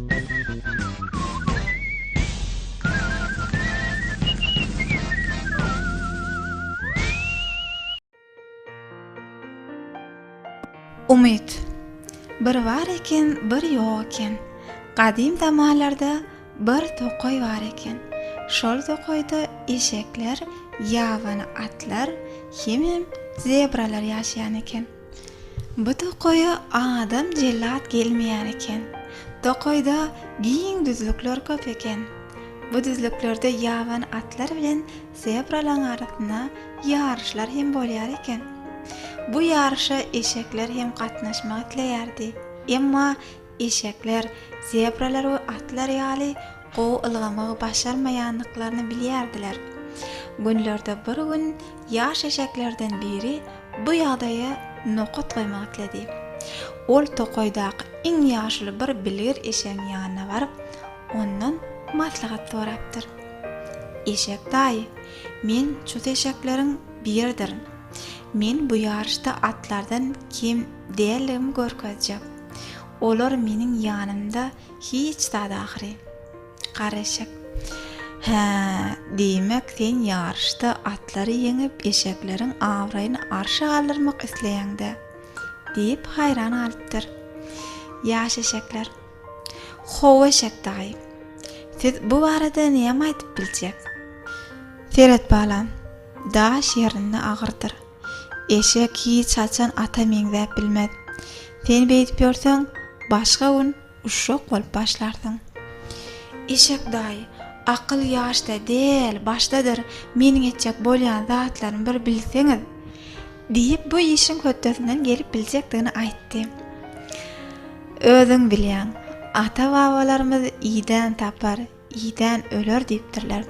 Umyt Bir bar eken, bir ýok eken. Gadym zamanlarda bir tokaý bar eken. Şol tokaýda eşekler, ýabany atlar hemem zebralar ýaşaýan eken. Bu tokaýa adam jellat gelmeýän eken. Tokaýda giň düzlükler köp eken. Bu düzlüklerde ýaban atlar bilen zebralaryň arasynda ýaryşlar hem bolýar eken. Bu ýaryşa eşekler hem gatnaşmak isleýärdi. Emma Eşekler, zebralar we atlar ýaly gowy ylgamagy başarmaýandyklaryny bilýärdiler. Günlerde bir gün ýaş eşeklerden biri bu ýagdaýa nokat goýmak isledi. Ol tokaýdaky iň ýaşuly bir bilgir eşegiň ýanyna baryp, ondan maslahat sorapdyr. Eşek daýy, men çus eşekleriň biridirin. Men bu ýaryşda atlardan kem däldigimi görkezjek. Olar meniň ýanymda hiç zat ahyry. Gara eşek. Hä, diýmek, sen ýaryşda atlary ýeňip, eşekleriň abraýyny arşa galdyrmak isleýäň-dä? diýip, haýran galypdyr. Ýaş eşekler. How, eşek daýy. Siz bu barada näme aýdyp biljek? Seret balam, daş ýerinde agyrdyr. Eşek hiç haçan ata meňzäp bilmez. Sen beýdip ýörseň, başga gün uşak bolup başlarsyň. Eşek daýy, Akyl ýaşda däl, başdadyr, meniň etjek bolýan zatlarymy bir bilseňiz! diýip, bu işiň hötdesinden gelip biljekdigini aýtdy. Özüň bilýäň, ata-babalarymyz idän tapar, Idän öler diýipdirler.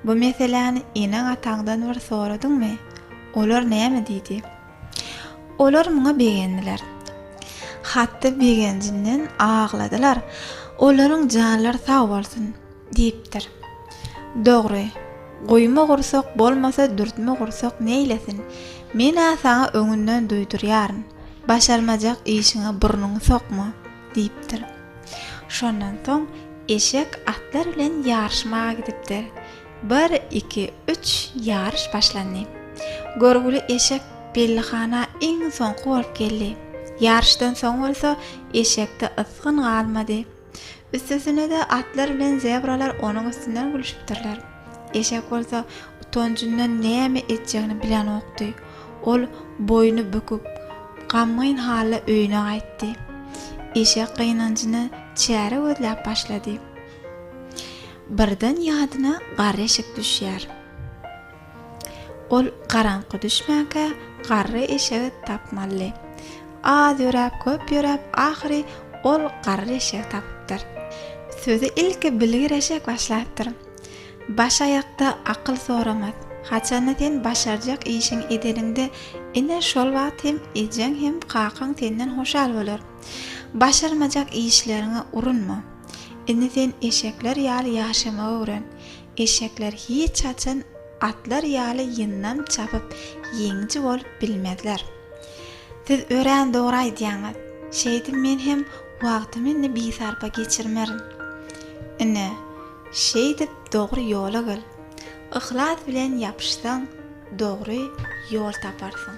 Bu meseläni eneň-ataňdan bir soradyňmy? Olar näme diýdi? Olar muňa begendiler. Hatda begenjinden agladylar. Olaryň janlary sag bolsun! diýipdir. Dogry, guýma gursak bolmasa dürtme gursak neýlesin? Men-ä saňa öňünden duýdurýaryn, başarmajak işiňe burnuňy sokma! diýipdir. Şondan soň eşek atlar bilen ýaryşmaga gidipdir. Bir, iki, üç, ýaryş başlandy. Görgüli eşek Bellihana iň soňky bolup geldi. Ýaryşdan soň bolsa eşekde ysgyn galmady. Üstesine-de atlar bilen zebralar onuň üstünden gülüşipdirler. Eşek bolsa utanjyndan näme etjegini bilenokdy. Ol boýny büküp, gamgyn halda öýüne gaýtdy. Eşek gynanjyna çäre gözläp başlady. Birden ýadyna garry eşek düşýär. Ol garaňky düşmänkä garry eşegi tapmalydy. Az ýöräp, köp ýöräp, ahyry ol garry eşegi tapypdyr. Sözi ilki bilgir eşek başlapdyr. Baş aýakda akyl soramaz. Haçanda sen başarjak işiňi edeniňde, ine, şol wagt hem ejeň hem kakaň senden hoşal bolar. Başarmajak işleriňe urunma. Indi sen eşekler ýaly ýaşamagy öwren. Eşekler hiç haçan atlar ýaly ýyndam çapyp, ýeňiji bolup bilmezler. Siz örän dogry aýdýaňyz. Şeýdip men hem wagtymy indi bisarpa geçirmerin. Ine, şeýdip dogry ýola gel. Yhlas bilen ýapyşsaň, dogry ýol taparsyň.